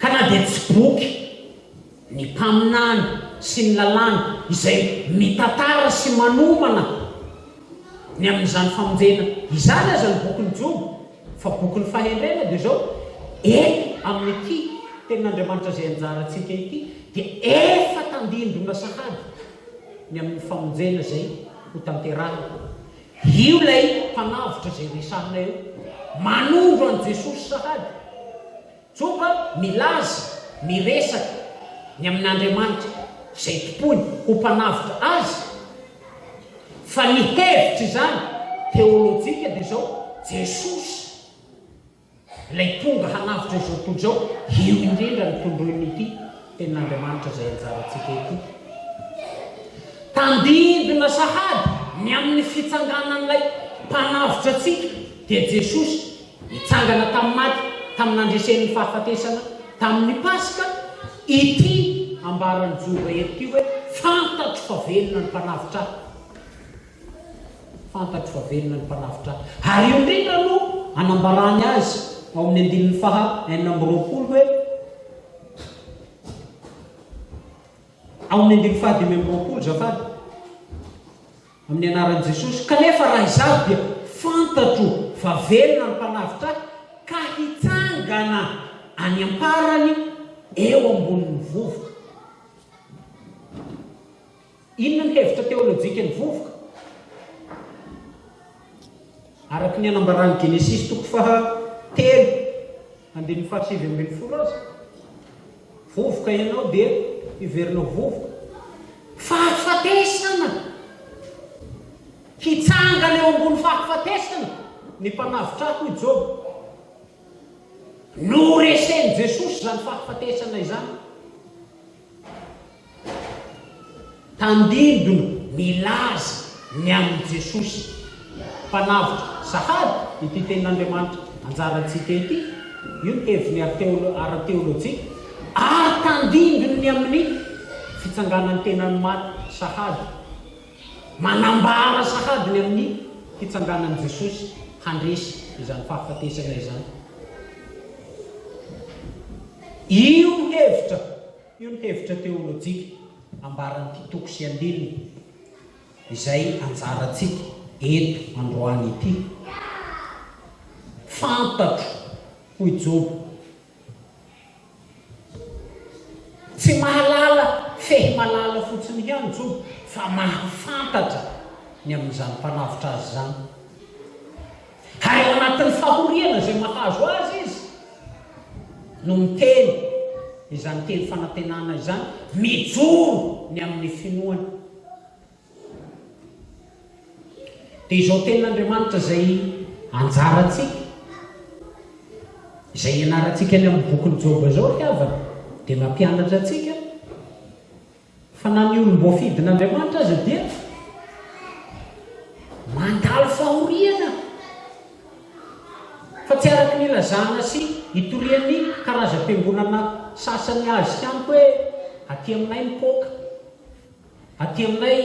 ka na dia tsy boky ny mpaminany sy ny lalàna izay mitantara sy manomana ny amin'izany famonjena izany aza ny bokin'i Joba, Fa bokin'ny fahendrena dia izao, Eto amin'ity Tenin'Andriamanitra izay anjarantsika ity dia efa tandindona sahady ny amin'ny famonjena izay hotanterahina. Io ilay Mpanavotra izay resahina eo, manondro an'i Jesosy sahady. Joba milaza miresaka ny amin'Andriamanitra izay tompoiny ho mpanavotra azy fa ny hevitra izany teolojika dia izao, Jesosy ilay tonga hanavotra izao tontolo izao, io indrindra no tondroin'ity. Tenin'Andriamanitra izay anjarantsika ety tandindona sahady ny amin'ny fitsanganan'ilay Mpanavotra antsika, dia Jesosy, nitsangana tamin'ny maty tamin'ny nandresen'ny fahafatesana tamin'ny Paska, ity ambaran'i Joba eto ity hoe, Fantatro fa velona ny Mpanavotra ahy. Fantatro fa velona ny Mpanavotra ahy. Ary io indrindra no anambarany azy ao amin'ny andininy faha enina amby roapolo hoe, Amin'ny andininy fahadimy amby roapolo, Zafady, amin'ny anaran'i Jesosy, kanefa raha izaho dia fantatro fa velona ny mpanavotra ahy, ka hitsangana any am-parany eo ambonin'ny vovoka. Inona ny hevitra teolojikan'ny vovoka? Araka ny anambaran'ny Genesisy toko faha telo andininy faha sivy ambin'ny folo aza, vovoka ianao dia hiverina ho vovoka. Fahafatesana! Hitsangana eo ambony fahafatesana ny mpanavotra ahy, hoy Joba. Noresen'i Jesosy izany fahafatesana izany. Tandindona milaza ny amin'i Jesosy Mpanavotra sahady ity tenin'Andriamanitra anjarantsika ity, io ny heviny ara-teolojia, ary tandindony ny amin'ny fitsanganan'ny tenan'ny maty sahady. Manambara sahady ny amin'ny fitsanganan'i Jesosy handresy izany fahafatesana izany io hevitra. Io ny hevitra teolojika ambaran'ity toko sy andininy izay anjarantsika eto androany ity. Fantatro, hoy Joba, tsy mahalala fehy malala fotsiny ihany Joba fa mahafantatra ny amin'izany mpanavotra azy izany. Ary ao anatin'ny fahoriana izay mahazo azy izy no miteny izany teny fanantenana izany, mijoro ny amin'ny finoany. Dia izao tenin'Andriamanitra izay anjarantsika, izay ianarantsika any amin'ny bokin'i Joba izao ry havana, dia mampianatra antsika, Fa na ny olom-boafidin'Andriamanitra aza dia mandalo fahoriana, fa tsy araka ny ilazana sy itorian'ny karazam-piangonana sasany azy tamiko hoe aty aminay mipoaka, aty aminay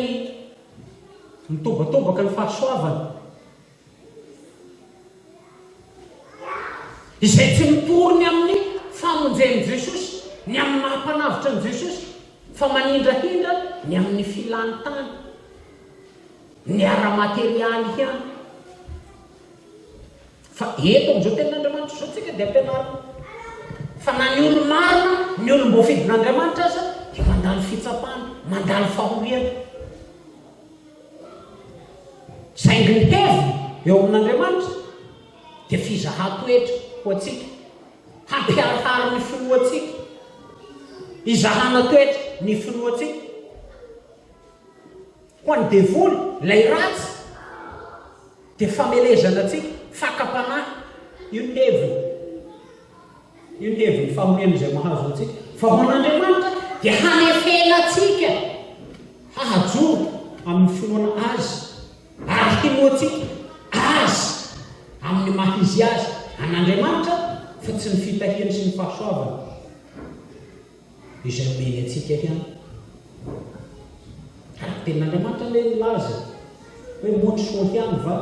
mitobatobaka ny fahasoavana. Izay tsy mitory ny amin'ny famonjen'i Jesosy, ny amin'ny maha Mpanavotra an'i Jesosy, fa manindrahindra ny amin'ny filany tany, ny ara-materialy ihany. Fa eto amin'izao Tenin'Andriamanitra izao tsika dia ampianarina fa na ny olo-marina, ny olom-boafidin'Andriamanitra aza dia mandalo fitsapana, mandalo fahoriana. Saingy ny heviny eo amin'Andriamanitra dia fizahan-toetra ho antsika, hampiharihary ny finoantsika, hizahana toetra ny finoantsika. Ho an'ny devoly, ilay ratsy, dia famelezana antsika, fakam-panahy. Io ny heviny. Io ny hevin'ny fahoriana izay mahazo antsika, fa ho an'Andriamanitra dia hanefena antsika hahajoro amin'ny finoana Azy ary hinoantsika Azy amin'ny maha Izy Azy an'Andriamanitra fa tsy ny fitahiany sy ny fahasoavany izay omeny antsika ihany. Ary ny tenin'Andriamanitra anie milaza hoe motry soa ihany va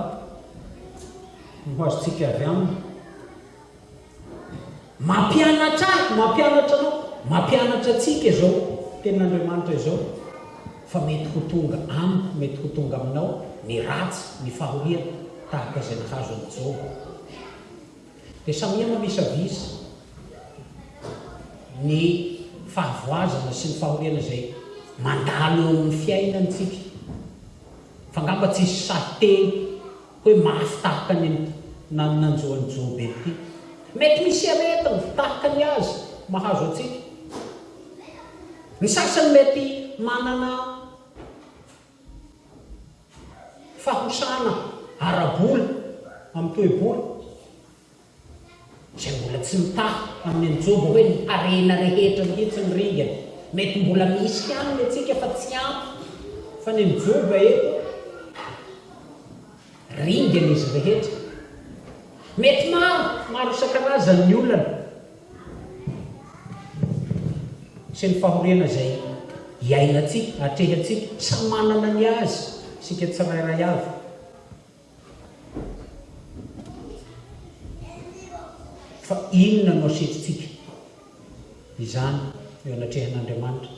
no ho azontsika avy aminy. Mampianatra ahy, mampianatra anao, mampianatra antsika izao Tenin'Andriamanitra izao fa mety ho tonga amiko, mety ho tonga aminao ny ratsy, ny fahoriana tahaka izay nahazo an'i Joba. Dia samia mamisavisa ny fahavoazana sy ny fahoriana izay mandalo eo amin'ny fiainantsika. Fa angamba tsy hisy sahy teny. Hoe mafy tahaka ny an'ity nany nanjo an'i Joba ity. Mety misy aretina tahaka ny azy mahazo antsika. Ny sasany mety manana fahosana ara-bola amin'ny toe-bola. Izay mbola tsy mitaha amin'ny anjoby hoe ny harena rehetra mihitsy ny ringany. Mety mbola misy ihany ny antsika fa tsy ampy fa ny anjoba eto ringany izy rehetra. Mety maro, maro isan-karazany ny olana sy ny fahoriana izay iainantsika, atrehantsika. Samy manana ny azy isika tsirairay avy. Fa inona no asetritsika izany eo anatrehan'Andriamanitra?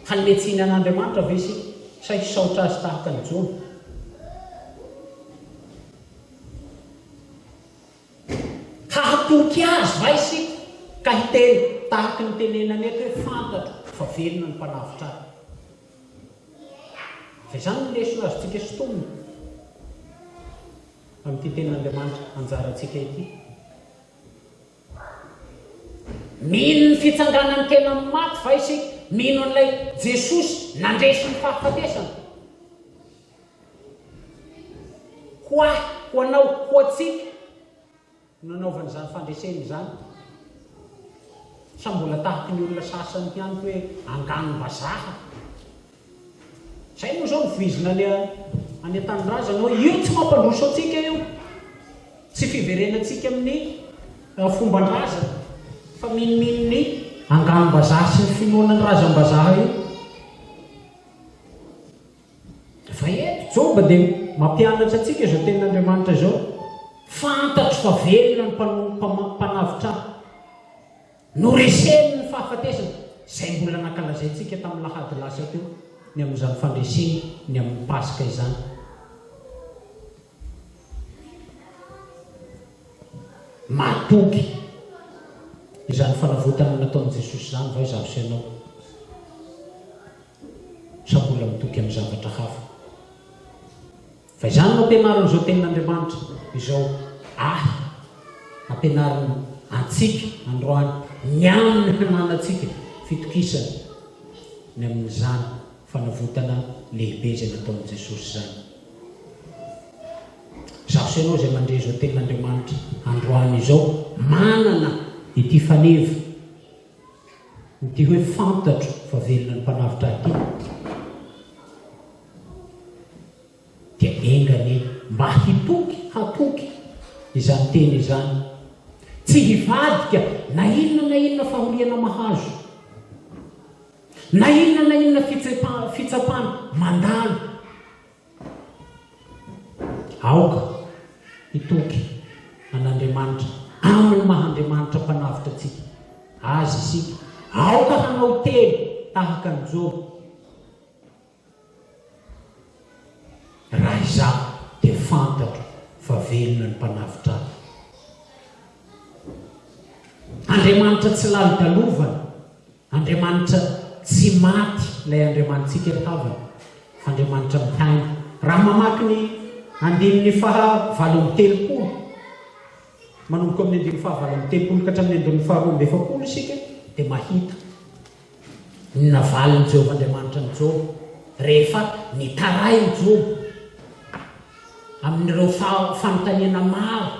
Hanome tsiny an'Andriamanitra ve isika sa hisaotra Azy tahaka an'i Jona? Hahatoky Azy va isika ka hiteny tahaka ny tenenany eto hoe, Fantatro fa velona ny Mpanavotra ahy? Dia izany no lesona azontsika sintomina amin'ity Tenin'Andriamanitra anjarantsika ity. Mino ny fitsanganan'ny tena amin'ny maty va isika? Mino an'ilay Jesosy nandresy ny fahafatesana? Ho ahy, ho anao, ho antsika, no anaovany izany fandresena izany? Sa mbola tahaka ny olona sasany ihany hoe anganom-bazaha? Izay moa izao no voizina any any an-tanindrazana hoe io tsy mampandroso antsika io, tsy fiverenantsika amin'ny fomban-drazana fa minomino ny anganom-bazaha sy ny finoana ny razam-bazaha io. Fa eto Joba dia mampianatra antsika izao tenin'Andriamanitra izao, Fantatro fa velona ny mpanompo mpanavotra ahy. Noreseny ny fahafatesany, izay mbola nankalazaintsika tamin'ny lahady lasa teo, ny amin'izany fandreseny ny amin'ny Paska izany. Mahatoky izany fanavotana nataon'i Jesosy izany va izaho sy ianao? Sa mbola mitoky amin'ny zavatra hafa? Fa izany no ampianarin'izao Tenin'Andriamanitra izao ahy, ampianariny antsika androany, ny amin'ny hananantsika fitokisana ny amin'izany fanavotana lehibe izay nataon'i Jesosy izany. Izaho sy ianao izay mandre izao Tenin'Andriamanitra androany izao, manana ity faneva Ny hoe fantatro fa velona ny mpanavotra ahy tena dia enga anie mba hitoky, hatoky izany teny izany. Tsy hivadika na inona na inona fahoriana mahazo, na inona na inona fitsapana mandalo. Aoka hitoky an'Andriamanitra amin'ny maha-Andriamanitra Mpanavotra antsika Azy isika. Aoka hanao teny tahaka an'i Joba, Raha izaho dia fantatro fa velona ny Mpanavotra ahy. Andriamanitra tsy lalo-dalovana. Andriamanitra tsy maty ilay Andriamanitsika ry havana fa Andriamanitra mihaino. Raha mamaky ny andininy faha valo amby telopolo manomboka amin'ny andininy faha valo amby telopolo ka hatramin'ny andininy faha roa amby efapolo isika dia mahita ny navalin'i Jehovah Andriamanitra an'i Joba rehefa nitarain'i Joba amin'ireo fanontaniana maro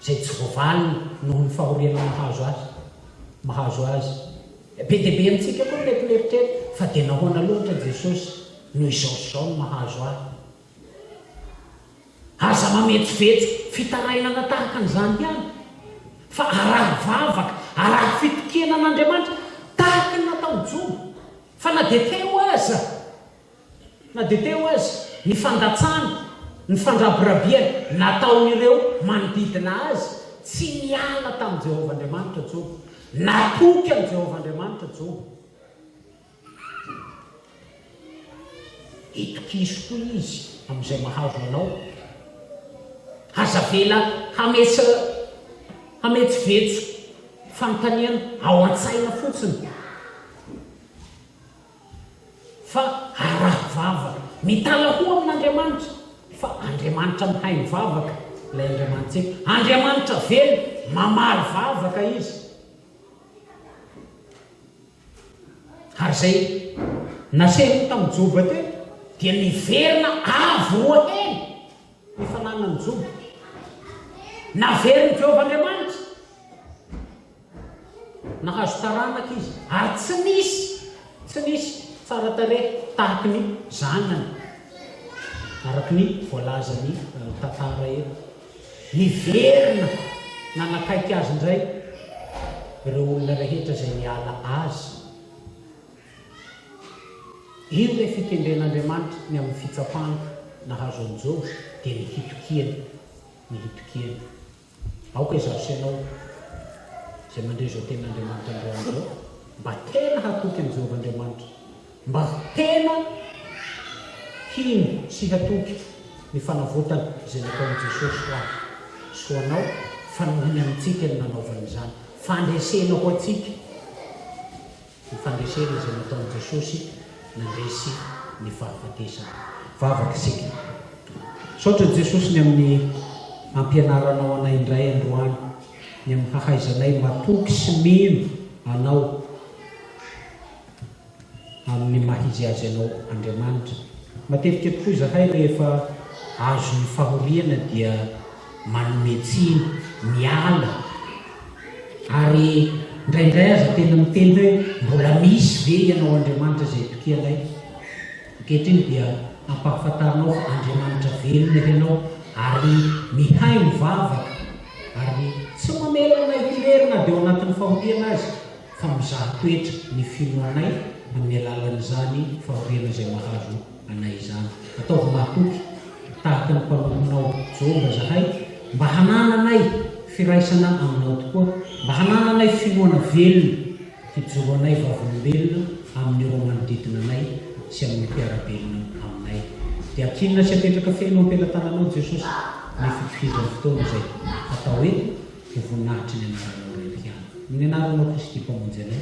izay tsy voavaly noho ny fahoriana mahazo azy, mahazo azy. Be dia be amintsika koa ny mety mieritreritra fa dia nahoana loatra Jesosy no izao sy izao no mahazo ahy? Aza mametsovetso fitarainana tahaka an'izany ihany, fa araho vavaka, araho fitokena an'Andriamanitra tahaka ny nataon'i Joba, fa na dia telo aza. Na dia teo aza ny fandatsana, ny fandrabirabiana nataon'ireo manodidina azy, tsy niala tamin'i Jehovah Andriamanitra Joba. Natoky an'i Jehovah Andriamanitra Joba. Itokiso koa izy amin'izay mahazo anao. Aza avela hametsovetso fanontaniana ao an-tsaina fotsiny. fa araho vava, mitalahoa amin'Andriamanitra, fa Andriamanitra mihaino vavaka ilay Andriamanitsika, Andriamanitra velona, mamaly vavaka Izy. Ary izay nasehony tamin'i Joba teo dia niverina avo roa heny ny fananan'i Joba. Naverin'i Jehovah Andriamanitra. Nahazo taranaka izy ary tsy nisy, tsy nisy tsara tarehy tahaky ny zanany, araka ny voalazan'ny tantara eto. Niverina nanakaiky azy indray ireo olona rehetra izay niala azy. Io ilay fikendren'Andriamanitra ny amin'ny fitsapana nahazo an'i Joba, dia ny hitokiany, ny hitokiany. Aoka izaho sy ianao, izay mandre izao tenin'Andriamanitra amin'izao andro izao, mba tena hatoky an'i Jehovah Andriamanitra, mba tena hino sy hatoky ny fanavotana izay nataon'i Jesosy ho ahy sy ho anao, fa nohony amintsika no nanaovany izany, fandresena ho antsika. Ny fandresena izay nataon'i Jesosy nandresy ny fahafatesana. Vavaka isika. Misaotra an'i Jesosy ny amin'ny ampianaranao anay indray androany, ny amin'ny hahaizanay matoky sy mino Anao amin'ny maha izy azy Anao Andriamanitra. Matetika tokoa izahay rehefa azon'ny fahoriana dia manome tsiny, miala ary indraindray aza tena miteny hoe mbola misy ve ianao Andriamanitra izay itokianay? Ankehitriny dia ampahafantarinao fa Andriamanitra velona ianao ary mihay mivavaka ary tsy mamela anay hirery na dia ao anatin'ny fahoriana aza fa mizaha toetra ny finoanay amin'ny alalan'izany fahoriana izay mahazo anay izany. Ataovy mahatoky tahaka ny mpanomponao Joba izahay, mba hanananay firaisana aminao tokoa, mba hanananay finoana velona hijoro anay vavolombelona amin'ireo manodidina anay sy amin'ny mpiara-belona aminay. Dia akinona sy apetraka feno eo am-pelatananao, Jesosy, ny fitohizan'ny fotoana izay hatao eto ho voninahitry ny anaranao Ray mpihaino. Amin'ny anaranao Kristy Mpamonjy anay.